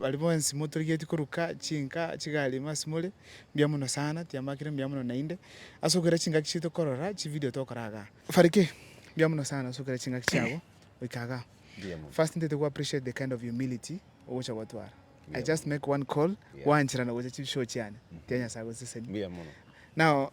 Baria bonsi motorigetie koruka chinka chigari ime ase more, mbuya mono sana, tiambakire mbuya mono naende, ase okogera chingaki chiaito tokorora chividio tokora igaa. Fariki, mbuya mono sana ase okogera chingaki chiago goika igaa. First ntaete go appreciate the kind of humility ogocha gotwara. I just make one call, gwancherana gocha chibishow chiane, tiga Nyasae agosesenie. Now.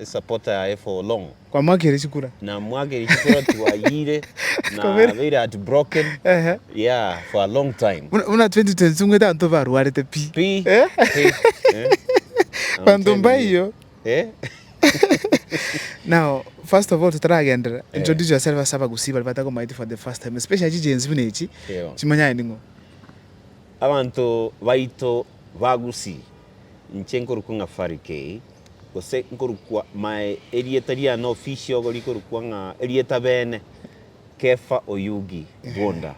esapota ya efa olong'u. Kwa mwakire chikura. Na mwakire chikura twayire na beire at broken yeah for a long time. Buna 2022 ng'wete abanto barwarete pi. Pi pi Abanto mbaiyo. Now first of all totaragenderera introduce yourself ase abagusii baria batakomaeti for the first time especially chi Gen Z buna echi chimanyare ning'o. Abanto baito ba gusii Inche nkorokwa ng'a Fari Kei, gose nkorokwa mae erieta riane ofisi ogo rikorokwa ng'a erieta beene, Kefa Oyugi Gwonda,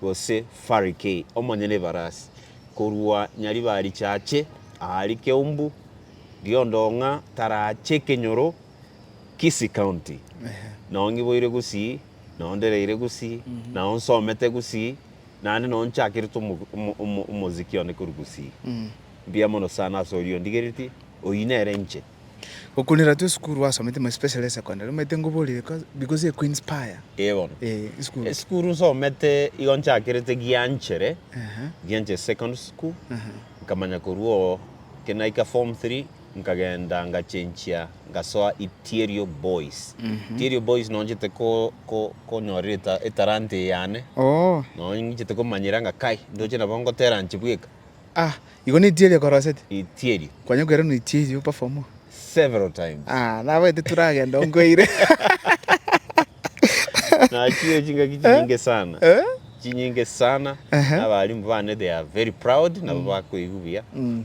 gose Fari Kei, omonyene ebarasi, korwa Nyaribarichache aa rikeumbu riondong'a tarache ekenyoro Kisii County. Nao ngiboire gusii, nao ndereire gusii, nao nsomete gusii. Naende nonye nchakerete omoziki one korwa gusii, mbuya mono sana ase oria ondigeretie, oyio nere inche. Gokunera twe esukuru gwasomete mono especially esecondary omanyete ngoborie because eye Queens Pire. Ee bono. Esukuru nsomete igo nchakerete Gianchere, Gianchere Secondary School, nkamanya korwa oo ekero naika form three nkagenda ngachenchia ngasoa Itierio Boys. Itierio Boys nonya nchete ko ko konyorera eta etalanta eye yane, Oo. nonya nchete komanyera ng'a kai ndoche nabo ngotera nchi bweka. Ah, igo ne Itierio okorosete? Itierio. Kwanya koeranwa Itierio perform? Several times. Ah, nabaete turagenda oo nkweire. Nachire chingaki chinyinge sana. Eh? Chinyinge sana. Ehe. Nabaarimbu bane they are very proud, nabo bakoigwa buya. Mm.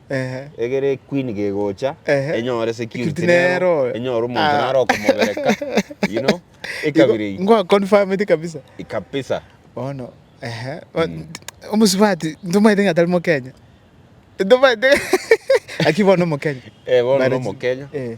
Ehe. Egere equeen gegocha Ehe. enyore security Security nero nero oyo. enyore omonto Ah. nare okomobereka you know ekabira eyio Ngoa confirmete kabisa. kabisa Bono, ehe. Bo- Mm. Omosubati, ntomaete ng'a tari Mokenya. Ntomaete Lakini bono Mokenya. Eh, bono Marriage. nomokenya Eh.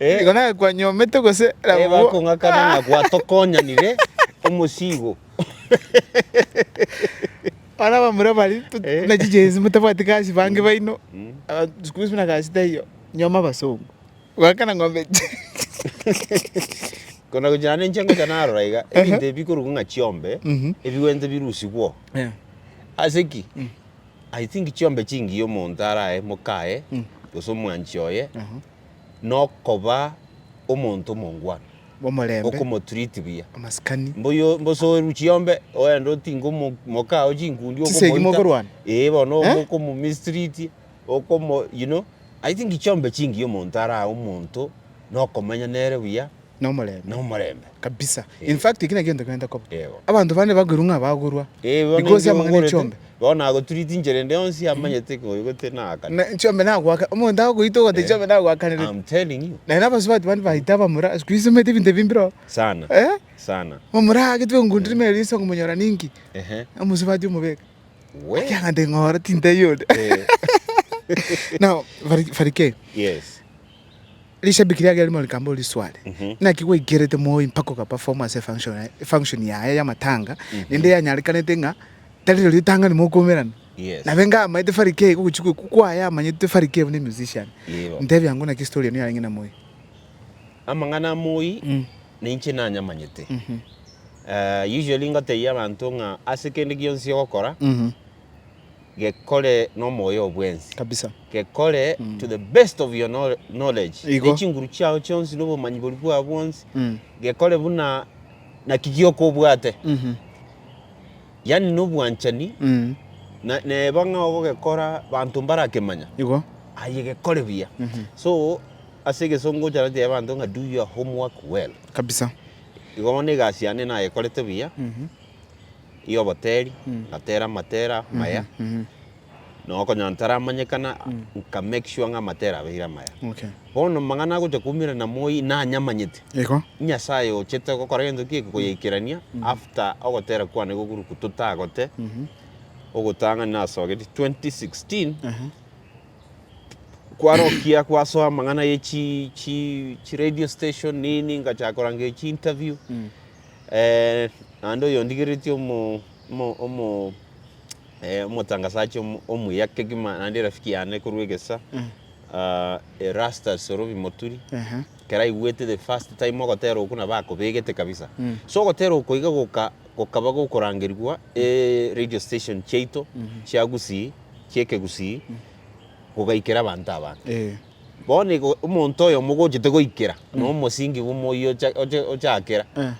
Igo naye kwanyomete gose nabwo? Ebakong'akana ng'a gwatokonyanire omosiigo. Abana abamura baria to- Eh. na chijensi motabwati gasi bange baino aba- siku hizi buna gasi taiyo nyoma abasongo goakana ng'ombe Kona gochia naende inche ngocha narora iga, ebinto ebi bikorokwa ng'a chiombe, Mhm. ebigwento birusigwe oo. Eh. Ase ki? I think chiombe chingiya omonto arae mokaye gose omwanchi oye nokoba omonto omongwana Omorembe. okomotreat buya Amasikani. mbuyo mbosoeru chiombe oende otinge omo mokao chinkundi Chisegi okomoita mokorwana. eh bono Eh? okomo mistreat okomo you know I think chiombe chingiya omonto arae omonto nokomenya nere buya Nomorembe. nomorembe. Kabisa. In fact, ekio negento kegento koba. Yego. Abanto bande bakoirwa ng'a bagorwa. Eh, bono Because inche amang'ana ongorete, echiombe. bono agotreat inchera ende yonsi amanyete ng'a oyo gete nakare. Na echiombe nagoaka. Omonto agoita ogoteba echiombe nagoakanire. I'm telling you. Naende abasubati bande baita abamura. Siku hizi omanyete ebinto ebi mbireo. Sana. Eh? Sana. Omura agetwa engundire ime eria ase okomonyora ninki. Ehe. Omosubati omobeke. We. Kiagante ng'ora tintaiyo onde. Eh. Now, Fari- Farikei. Yes. Rishabiki riaye rimo rikambe ori sware naki gwaikerete moi mpaka okaperform ase efunction yaye efunction yaye yamatanga rende yanyarekanete ng'a tari rori ritang'ani mokomerana Yes. nabe enga amaete farikei gogochi goku kwaye amanyete farikei buna emusician Yebo. ntebia ng'o naki story eno yarenge na moi Amang'ana a moi ninche nanyamanyete. Eh, usually ngotebia abanto ng'a ase kende gionsi ogokora, gekore nomoyo oo bwensi, Kabisa. gekore to the best of your knowl- knowledge, Igo. ne chinguru chiao chionsi, na obomanyi boria bwao bwonsi, Mm. gekore buna naki gioka obwate, Mhm. yaani na obwanchani, Mm. na neba ng'a ogogekora banto mbarakemanya, Igo. aye gekore buya. Mhm. So, ase egesongo ogocha gotebia abanto ng'a do your homework well. Kabisa. Igo bono egasi yane nayekorete buya, Mhm. y'oboteri, ngatera amatera maya, na okonyora ntaramanyekana, nka make sure ng'a amatera abeire amaya. Okay. Bono amang'ana agocha koumera na moyio nanyamanyete, Igo. Nyasaye ochete gokora gento kieke koyaikerania after ogotera kwane gokuruku totagote, ogotang'ani nasogetie 2016, Aha. kwarokia kwasoa amang'ana ye chi chi chi radio station nini, ngachaka korangeria chi interview, Naende oyondigeretie omotangasachi omuya kegima naende erafiki yane korwa egesa, Erastus Orobi Moturi, ekero aigwete the first time ogotera okwo nabo akobegete kabisa. So ogotera oko iga gokaba gokorangerigwa radio station chiaito chia Gusii, chia Ekegusii, kogaikera abanto abange. Bono igo omonto oyomo ogochete goikera na omosingi bw'omoyio ocha- ocha- ochakera, Eh.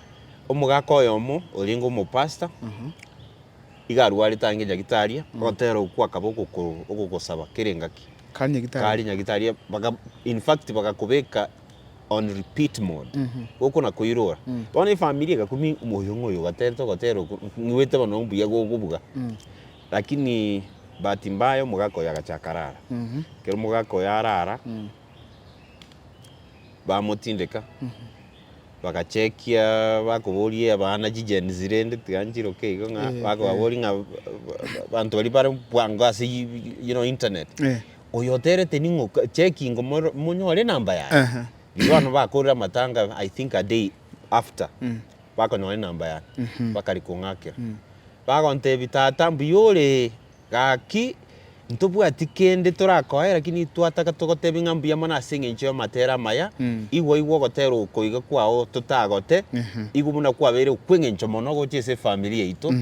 omogaka oyomo orenge omopastor, iga arwarete ang'e nyagitaria, ogotera okwo akaba ogoko- ogogosaba kera engaki, Kare nyagitari. kare nyagitaria, baka in fact bagakobeka on repeat mode, gokona koirora. Bono efamiri egakumia omoyio ng'oyo ogaterete ogotera okwo, ng'wete bono mbuya gokobuga. Lakini bahati mbaya omogaka oyo agachaka arara. Ekero omogaka oyo arara, bamotindeka, bagachekia bakoboria abana chigenzi rende tiga nchiroke igo ng'a Eh, bakababoria ng'a abanto baria bare bwango ase you know internet. Eh. Oyo oterete ning'o checking omoro monyore enamba yaye. Aha. Igo bono bakorire amatanga I think a day after. bakonyora enamba yane, bakari kong'akera. Bagontebi, Tata, mbuya ore gaki, ntobwati kende torakoe, rakini twataka togotebi ng'a mbuya mono ase engencho y'amatera amaya, igwa igwa ogotera oko iga kwao totagote, igwa buna kwabeire okw'engencho mono gochia ase efamiri yaito,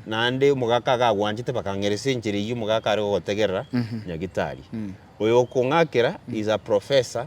naende omogaka iga agwanchete bakang'eresa enchera eyio omogaka are gogotegerera, Nyagitari, oyo okong'akera is a professor.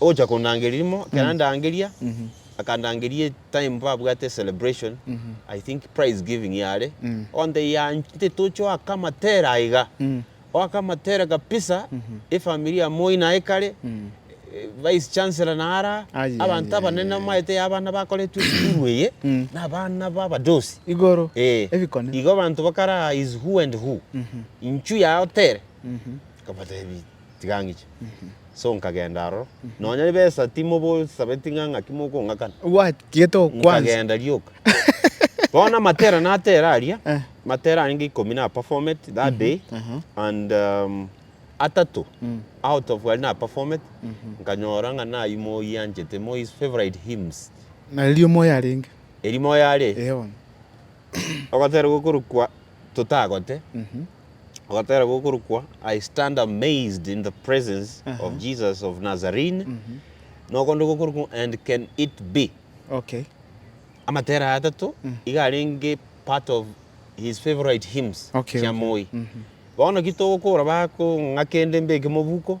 Ogocha kondangeria rimo, ekero andangeria, akandangeria etime babwate celebration, I think prize giving yare, ogantebia yaaaa intwe toche oaka amatere aa iga, oaka amatere kabisa, efamiri ya moi naye kare, vice chancellor naye araa, Aye, abanto aye, abanene aye, aye. omanyete yaya abana bakoretwe esukuru eye, na abana ba abadosi. Igoro, Eeh, ebikone. igo abanto bakara is who and who, inchu yao tere, nkabatebia. Tiga ngiche. So nkagenda aroro. Nonya ribesa timobosabeti ng'a ng'aki mokong'akana. Obwatiete okwansa. Nkagenda rioka. Bono amatera natera aria, Eh. matera arenge ikomi naperformeti that day Aha. and um, atato Mm. out of aria naperformeti nkanyora ng'a nayi Moi anchete, Moi's favorite hymns. Na riria omoyo arenge. Eria Moi are, Eeh bono. ogoterwa okorokwa totagote, agatera gokorokwa I stand amazed in the presence Aha. of Jesus of Nazarene, nokonde gokorokwa and can it be. Okay. Amatera aya atato iga arenge part of his favorite hymns Okay, chia okay. Moi. Bono ki togokora bakong'a kende mbeke mobuko,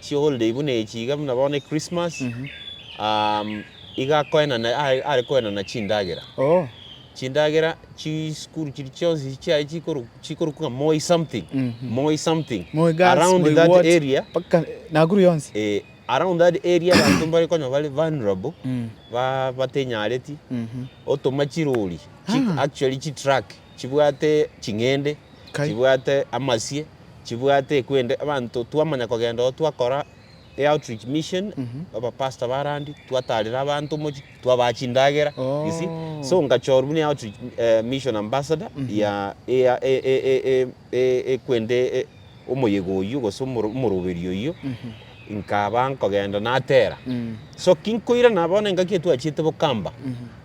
chiholiday buna echi iga buna bono Christmas, iga akoenana are koenana chindagera. Chindagera chisukuru chiria chionsi chiaye chikorokwa ng'a Moi something, Moi something, around that area, around that area abanto mbare konya bare vulnerable, batinyareti, otoma chirori, actually chitruck chibwate ching'ende, chibwate amasie. chibwate ekwende abanto twamanya kogenda oo twakora e outreach mission abapastor barandi twatarera abanto omochie twabaha chindagera you see so ngachorwa buna e outreach mission ambassador ya ea e e e e e ekwende e omoyega oyio gose omoro omoroberi oyio nkaba nkogenda natera so kinkoirana bono engaki etwachiete bokamba.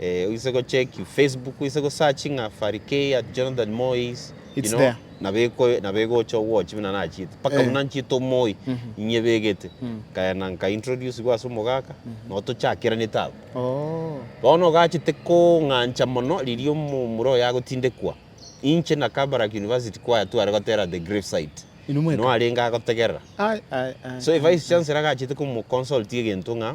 Eh, oise go check you Facebook, oise go search ng'a Farikei at Jonathan Moy's. you It's know, there. nabeko nabegocha owochi buna nachite paka Eh. buna nchite omoi inye begete kaena nka introduce gwa ase omogaka no tochakeranete abo Oh. bono ogachete kong'ancha mono riria omo- omura oyo agotindekwa inche na Kabarak University kwaya tware gotera the grave site Inwe mweka? no arenge agotegerera Ai, ai, ai, so ai, a vice chancellor agachete komo consult egento ng'a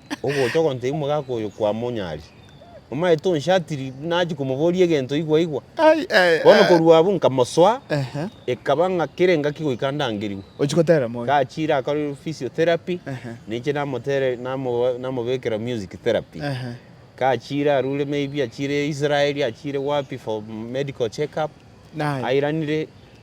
ogocha ogontebia omogaka oyo kwamonyari, omanyete onshatiri buna nachia komoboria egento igwa igwa. Ai, ai, Bono ai. korwa abwo nkamosoa, Ehe. ekaba ng'a kera engaki goika ndangerigwe. Ochia gotera moyo. Gachiire akore physiotherapy, Ehe. ninche namotere namo- namobekera music therapy. Ehe. Gachiire arure maybe achiire Israel, achiire wapi for medical check up, Naye. airanire.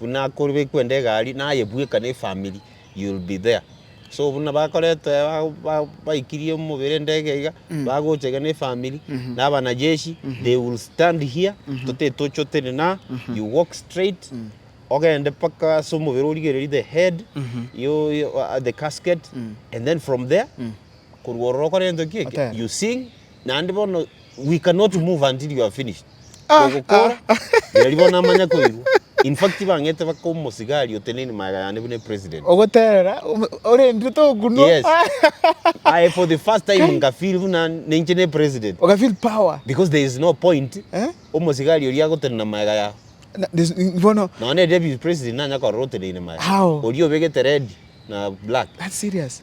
Buna korube kwende egari naye bweka ne family you will be there so buna bakoretwe baikirie omobere endege iga bagocha iga ne family na abanajeshi they will stand here tote tochotene na you walk straight ogende mpaka ase omobere origererie the head you the casket and then from there korwa ororo okore gento ki eke you sing Naende bono we cannot move until you have finished. Kogokora, riari bono namanya koirwa. In fact bang'ete baka omosigari oteneine magega yane buna epresident. Ogoterera, ome- orendire tokunwa. Yes. Aye for the first time nga feel buna ninche ne president. Oka feel power. Because there is no point Eh? omosigari oria agotenena magega yao. Na- this- ni- Bono, Nonye deputy president nanya korora oteneine magega. How? Oria obegete red na black. that's serious.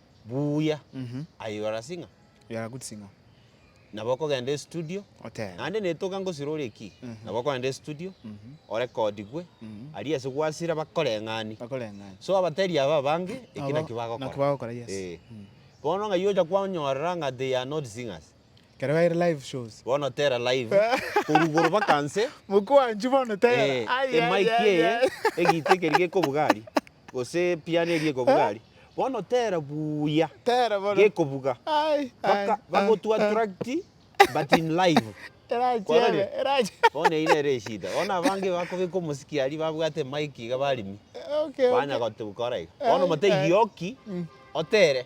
buya Mhm. aye you are a singer You are a good singer. nabo okogenda estudio Otebe. naende netoka ngosira oria ki Mhm. nabo okogenda estudio Mhm. orekodigwe Mhm. aria ase gwasira bakoreng'ani Bakoreng'ani. so abateri aba abange eki Nabo- naki bagokora naki bagokora, yes. Eh. Mm. bono ng'ai ocha kwanyorera ng'a they are not singers Ekero baire live shows. bono tera live korwa igoro baka nse Mokwanchwa bono tera. eh, Ai, ai, emike ai, eye ai. egite ekeri gekobuga aria Gose piano eria ekobuga aria. Bono tera buya Tera bono. gekobuga. Ai, ai, Baka, ai, bagotu ai. attract but in live. Erachiebe, Kwarorire? erachiebe. Bono eyio nere eshida. Bono abange bakobeka omosiki aria babwate mic iga baremi. Okay, okay. Banya gotu gokora iga. Bono Ai, ai. motegie oki otere.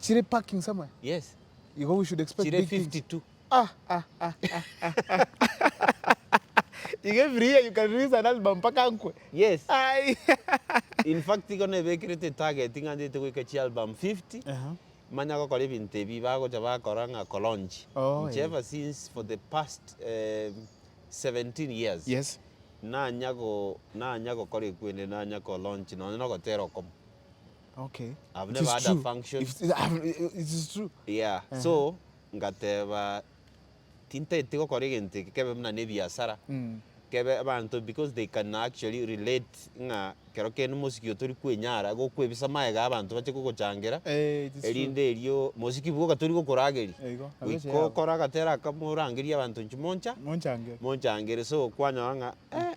Chire parking somewhere? Yes. Igo we should expect Chire big things. 52. Ah, ah, ah, ah, ah, ah. Igo every year you can release an album mpaka nkwe. Yes. Ai. In fact igo nebekerete target ng'a ndete goika chi album 50. Aha. Manya gokora ebinto ebi bagocha bakora ng'a kolaunch. Oh, Inche eh. ever since for the past eh, 17 years. Yes. Nanya go nanya gokora ekwende nanya kolaunch nonye nogotera okomo. Okay. I've It never is had a true. function. If- it- I've- it- it is true. yeah Ehe. so ngateba tintaeti gokora egento eke kebe buna nebiasara Mm. kebe abanto because they can actually relate ng'a kero kende mosiki oyo tori kwenyara gokwebisa magega ya abanto bache kogochangera Eh, it is true. erinde erio mosiki bwoka tori gokorageria Eigo, nabo goika echiabo. okora agatera akamo orangerie abanto inche moncha Monchangere. monchangere so kwanyora ng'a eh,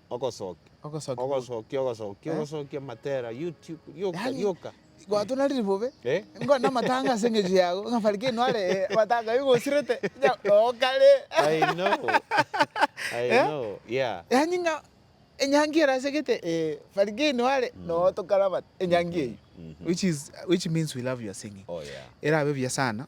Ogosokia, Ogosokia gwa- ogosokia, ogosokia, Eh? ogosokia matera, YouTube, rioka, Yaani, rioka. Gwato nari ribobe. Eh? Ngo na matanga ase eng'echo yago. Ng'a Farikei nware eh, matanga igo osirete. Nya oo kare. I know. I Eh? know. Yeah. Yaani ng'a enyangi ere asegete eh, Farikei nware noo tokarabate. Enyangi eyio. Mhm. Which is which means we love your singing. Oh, yeah. Erabe buya sana.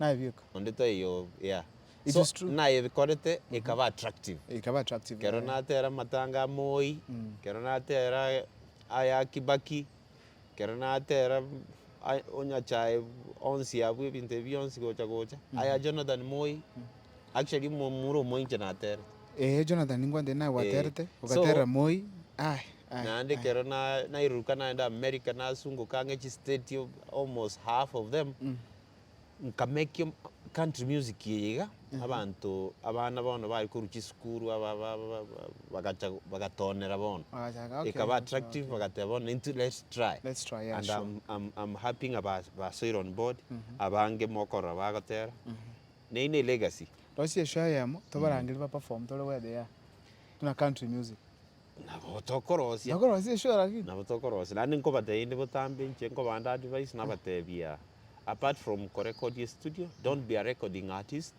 nayebieka. Onde taiyo yeah It so is true. nayebikorete ekaba attractive. Ekaba attractive Kero eh. natera amatanga a Moi, kero natera aya a Kibaki, kero natera a onyachae onsi abwo ebinto ebi bionsi gocha gocha, aya Jonathan Moi, actually omomura omoinche naterete. Eeh Jonathan ningwantire naye gwaterete, Eh. So- ogaterera Moi, aye. Naende ekero nairuruka naenda America nasungoka ang'e chistate almost half of them, nka make country music eye iga, abanto abana bono baria korwa chisukuru aba aba aba bagacha bagatonera bono. Bagachaka okay. Ekaba okay, attractive okay. bagateba bono into let's try. Let's try, yeah, and sure. I'm, I'm, I'm happy ng'a ba- basoire on board, abange mokorora bagotera, neyio ne legacy. Rosie eshow eyemo, tobarangerie baperform tore where they are, buna country music. Nabo tokorosia. Nokorosia eshoo lakini. Nabo tokorosia naende nkobatebi inde botambe inche nkobande advice nabatebia apart from ko record estudio don't be a recording artist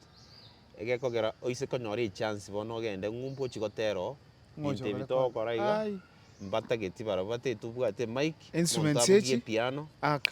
egekogera oise konyora echance bono ogende ng'umbu ochie gotera oo Ng'ochi ebinto ebi okorecord. togokora iga Aye. mbatageti barabwo batageti obwate emic omonto Instruments abugie echi. epiano Aka.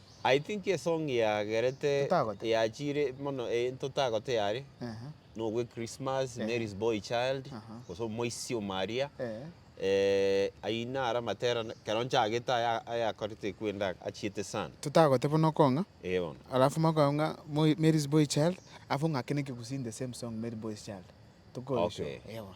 I think esong yagerete Totagote. yachiire mono eh, ntotagote yare Ehe. nogwe Christmas, Eh. Mary's boy child, Aha. gose omoisio o Maria. Eh. Eh, ayio naro amatera na- ekero nchagete aya ayakorete kwenda achiete sana. Totagote bono okong'a, Eh bono. alafu makoegwa ng'a Moi- Mary's boy child, alafu ng'ake na ekegusii in the same song Mary boy's child. Tokoyesure. Okay. Eh bono.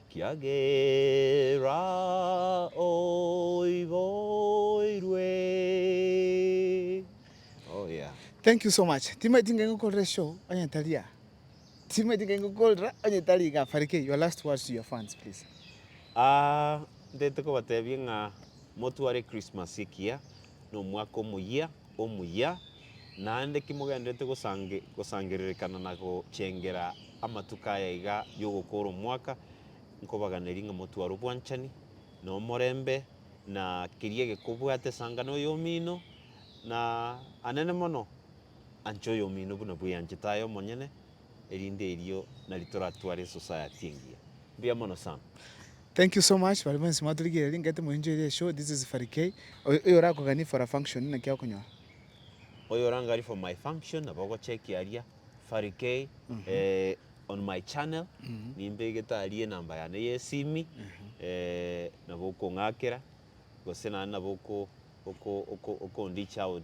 Kiagera oiboirwe. Oh yeah. Thank you so much timaeti ngai ngokorera eshow onye tari aa timaeti ngai ngokorera onye tari iga Farikei your last words to your fans please. Aah ntete kobatebia ng'a motware Christmas ekiya nomwaka omoyia. omuya, naende kimogenderete gosangererekana na gochengera amatuko aya iga y'ogokoora omwaka, nkobaganeria ng'a motware obwanchani, na omorembe, na keria gekobwate esangano eyomino, na anene mono, anche oyomino buna bweanchete aye omonyene, erinde erio nari toratware esociety engiya. Mbuya mono Sam. Thank you so much baria bonsi mwatorigereria ngete moenjoyere eshow this is Fally Kay oyo oyo orakoganie for a function naki okonyora. Oyo orangari for my function nabo ogochekia aria Fally Kay on my channel nimbegete aria enamba yane ye esimi nabo okong'akera gose naende nabo oko oko oko okondicha out